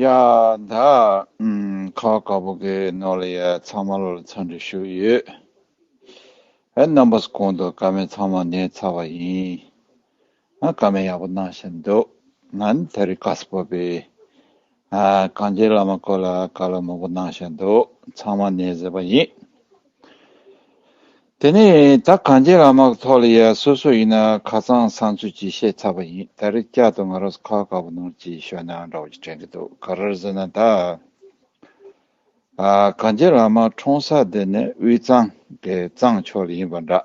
ཡ། ད་ཁ་བ་དཀར་པོ་གི་ནོར་ལ་ཡ་ཚང་མ་ལོ་ལ་ཚ་འདྲི་ཞུ་ཡོད། ཨེ་རྣམ་པ་སུ་གོང་དུ་ཀ་མེད་ཚང་མ་ནད་ཚ་བ་ཡིན། ཨ་ཀ་མེད་ཡག་པོ་གནང་བཞིན་འདུག་ང་ནི་ད་རི་ཀ་སུ་བོད་པའི་ཨ་གངས་ཅན་བླ་མ་སྐོར་ལ་བཀའ་སློབ་མང་པོ་གནང་བཞིན་འདུག་ཚང་མ་ནད་ཟེར་བ་ཡིན། དེ་ནས་ད་གངས་ཅན་ལ་མག་ཐོག་ལ་ཡ་སོ་སོ་ཡིན་ན་ཁ་ཚང་བསང་ཚུལ་གྱིས་བཤད་ཚར་བ་ཡིན་ད་རེས་བསྐྱར་དུ་ང་རོས་ཁ་དཀར་པོ་ནོར་གྱིས་ཞོ་ནག་འདྲ་བོ་ཞིག་དྲན་གྱི་འདུག་ག་རེར་ཟེར་ན་ད་གངས་ཅན་ལ་མག་འཁྲུངས་ས་དེ་ནི་དབུས་གཙང་གི་གཙང་ཕྱོགས་ལ་ཡིན་པ་འདྲ།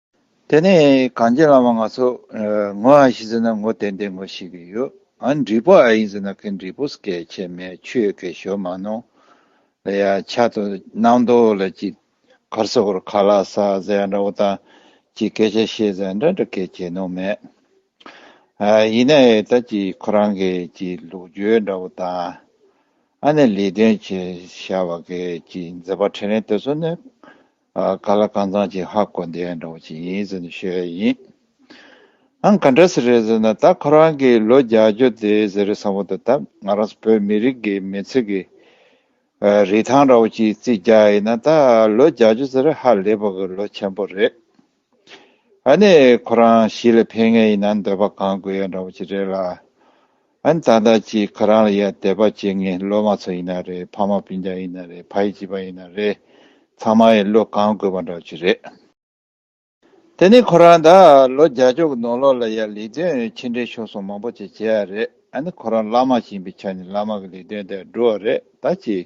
དེ་ནས་གངས་ཅན་བླ་མ་ང་ཚོ་ངོ་ཨ་ཤི་ཟེར་ན་ངོ་ཏན་ཏན་ངོ་ཤི་གི་ཡོད་ཨ་འབྲི་པོ་ཨ་ཡིན་ཟེར་ན་ཁི་འབྲི་པོ་སྐད་ཆེ་མེད་ཆོས་ཁེ་ཞོ་མ་ནོ་ལ་ཡ་ཆ་དོ་སྣང་དོ་ལ་ཅི་གར་སོ་གོར་ཁ་ལ་ས་ཟེར་ཡ་འདྲ་བོ་ད་ཅི་སྐད་ཆ་ཤེས་ཟེར་འདྲ་འདྲ་སྐད་ཆེ་ནོ་མེད་ཨ་ཡིན་ན་ཨེ་ད་ཅི་ཁོ་རང་གི་ཅི་ལུགས་བརྗོད་འདྲ་བོ་ད་ཨ་ནི་ལས་དོན་བྱེད་ཤ་བ་གི་ཅི་མཛེས་པ་ཁྲེ་རེན་དེ་ཚོ་ནི། ག་ལ་གང་ཚང་གཅིག་ཧ་གོ་འདི་འདྲ་བོ་ཅིག་ཡིན་ཟེར་ནས་ཤོད་ཡས་ཡིན། ཨང་ག་འདྲ་ཟེར་རེད་ཟེར་ན་ད་ཁོ་རང་གིས་ལོ་བརྒྱ་བརྗོད་དེ་ཟེར་རེད་བསམ་བོ་ད་ད་ང་རང་བོད་མི་རིགས་ཀྱི་མི་ཚེ་གི་རིས་ཐང་འདྲ་བོ་ཅིག་རྩིས་རྒྱག་ཡས་ན་ད་ལོ་བརྒྱ་བརྗོད་ཟེར་རེད་ཧ་ལས་པོ་གི་ལོ་ཆེན་པོ་རེད། ཨཱ་ནི་ཁོ་རང་གཞིས་ལ་ཕེབས་ངེས་ཡིན་ན་འདོད་པ་གང་དགོས་ཡང་འདྲ་བོ་ཅིག་རེད་ལ། ཨཱ་ནི་ད་ལྟ་ཅིག་ཁོ་རང་ལ་ཡ་བདེ་བ་བྱེད་ངེས་སློབ་མ་ཚོ་ཡིན་ན་རེད་ཕ་མ་སྤུན་ཆང་ཡིན་ན་རེད་ཕ་ཡི་བྱིས་པ་ཡིན་ན་རེད་ཚང་མ་ཡི་བློ་གང་དགོས་པ་འདྲ་བོ་ཅིག་རེད། དེ་ནི་ཁོ་རང་ད་ལོ་བརྒྱ་ཕྱོགས་ཀྱི་ནོར་ལོག་ལ་ཡ་ལས་དོན་ཕྱི་འབྲེལ་ཤོར་སོང་མང་པོ་ཅིག་བྱས་ཡ་རེད་ཨཱ་ནི་ཁོ་རང་བླ་མ་ཞིང་པའི་ཆ་ནས་བླ་མ་གི་ལས་དོན་དེ་འགྲོ་བ་རེད་ད་ཅིག་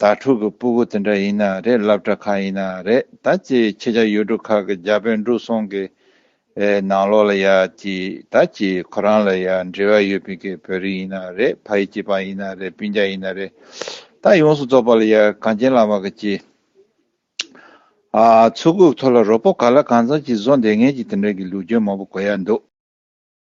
ད་ཕྲུག་གི་སྤུ་གུ་དེ་འདྲ་ཡིན་ན་རེད་བསླབ་གྲྭ་ཁག་ཡིན་ན་རེད་ད་ཅི་ཁྱེད་ཅག་ཡུལ་གྲུ་ཁག་གི་རྒྱ་བོད་འབྲུག་སོང་གི་ནང་ལོག་ལ་ཡག་ཅི་ད་ཅི་ཁོ་རང་ལ་ཡག་འབྲེལ་བ་ཡོད་པའི་གི་བོད་རིགས་ཡིན་ན་རེད་ཕ་ཡི་གཅེས་པ་ཡིན་ན་རེད་སྤུན་རྒྱ་ཡིན་ན་རེད་ད་ཡོངས་སུ་རྫོགས་པ་ལ་ཡག་གངས་ཅན་བླ་མ་གི་ཅི་ཨ་ཚུགས་ཁུག་ཐོ་ལ་རོ་པོ་ག་ལ་གང་ཚང་ཅིག་བཟོ་འདེད་ངན་ཅིག་དེ་འདྲ་གི་ལུགས་སྦྱོན་མང་པོ་གོ་ཡག་འདུག།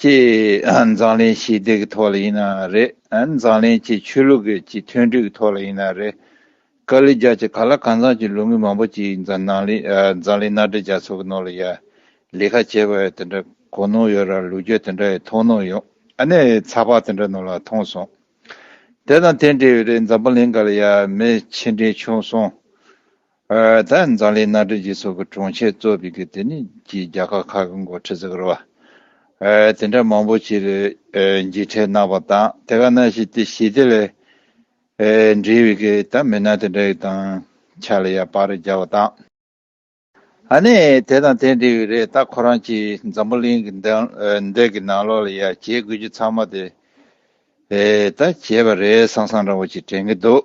ཅེས་འཛམ་གླིང་ཞི་བདེ་གི་ཐོག་ལ་ཡིན་ནའང་རེད་འཛམ་གླིང་སྤྱིའི་ཆོས་ལུགས་ཀྱི་སྤྱི་མཐུན་སྒྲིལ་གྱི་ཐོག་ལ་ཡིན་ནའང་རེད། ཀ་ལི་རྒྱ་བཅས་ག་ལ་གང་འཚམས་ཀྱི་ལུགས་མི་མང་པོ་ཅིག་འཛམ་གླིང་མནའ་འབྲེལ་རྒྱ་མཚོ་གི་ནང་ལ་ཡར་ལི་ཁ་བྱས་པ་དེ་འདྲ་གོ་ནོར་ཡོད་ར་ལུགས་རྒྱུ་དེ་འདྲ་ཡི་མཐོང་ནོར་ཡོད་ཨ་ནས་ཚགས་པར་དེ་འདྲ་ནོར་ལ་མཐོང་སོང། དེ་དང་དེ་འབྲེལ་བའི་རེད་འཛམ་གླིང་ག་ལ་ཡར་མི་ཕྱི་འབྲེལ་བྱུང་སོང། ད་མཛངས་ལས་སྣ་སྦྲེལ་གྱི་ཚོགས་ཀྱི་དྲུང་ཆེ་གཙོ་བོས་གི་དེ་ནི་གྱི་རྒྱ་གར་ཁག་གི་མགོ་ཁྲིད་ཟེར་གི་རོ། དེ་འདྲ་མང་པོ་ཆེ་རེ་འཇིགས་བྲལ་གནང་བ་དང་དེ་ག་ན་ཞིག་དེ་ཞི་བདེ་ལས་འབྲེལ་བའི་གི་ད་མི་སྣ་དེ་འདྲ་གི་དང་ཆ་ལ་ཡང་བག་རེ་རྒྱག་པ་དང། ཨ་ནི་དེ་དང་དེ་འབྲེལ་བའི་རེ་ད་ཁོ་རང་ཀྱི་འཛམ་བུ་གླིང་གི་འདས་གི་ནང་ལོག་ལ་ཡང་བྱེད་དགོས་རྒྱུ་ཚང་མ་དེ་ད་བྱས་པ་རེད་སང་སང་འདྲ་བོ་ཅིག་དྲན་གི་འདུག།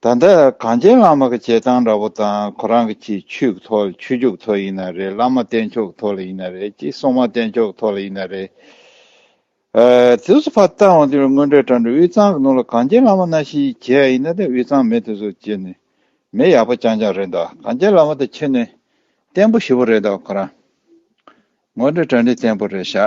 ད་ལྟ་གངས་ཅན་བླ་མ་གི་བྱེད་སྟངས་འདྲ་པོ་དང་ཁོ་རང་གི་ཆེད་ཆུག་ཐོག་ལ་ཆོས་ཕྱུག་ཐོག་ཡིན་ན་རེད་བླ་མ་བསྟེན་ཕྱོགས་ཐོག་ལ་ཡིན་ན་རེད་ཀྱི་སྲུང་མ་བསྟེན་ཕྱོགས་ཐོག་ལ་ཡིན་ན་རེད། དེ་སུ་ཕ་ལྟ་དབང་དེ་རུ་དངོས་འབྲེལ་དྲ་འབྲེལ་དབུས་གཙང་གི་ནང་ལ་གངས་ཅན་བླ་མ་སྣ་ཤིའི་གྱེས་ཡ་ཡིན་ན་དེ་དབུས་གཙང་མི་དེ་ཚོ་གྱེས་ནས་མི་ཡག་པོ་ཅང་ཅང་རེད་འདོག་གངས་ཅན་བླ་མ་དེ་ཁྱོད་ནས་བསྟེན་པོ་ཞུ་པོ་རེད་འདོག་ཁོ་རང་དངོས་འབྲེལ་དྲ་འབྲེལ་བསྟེན་པོ་རེད་ཤག།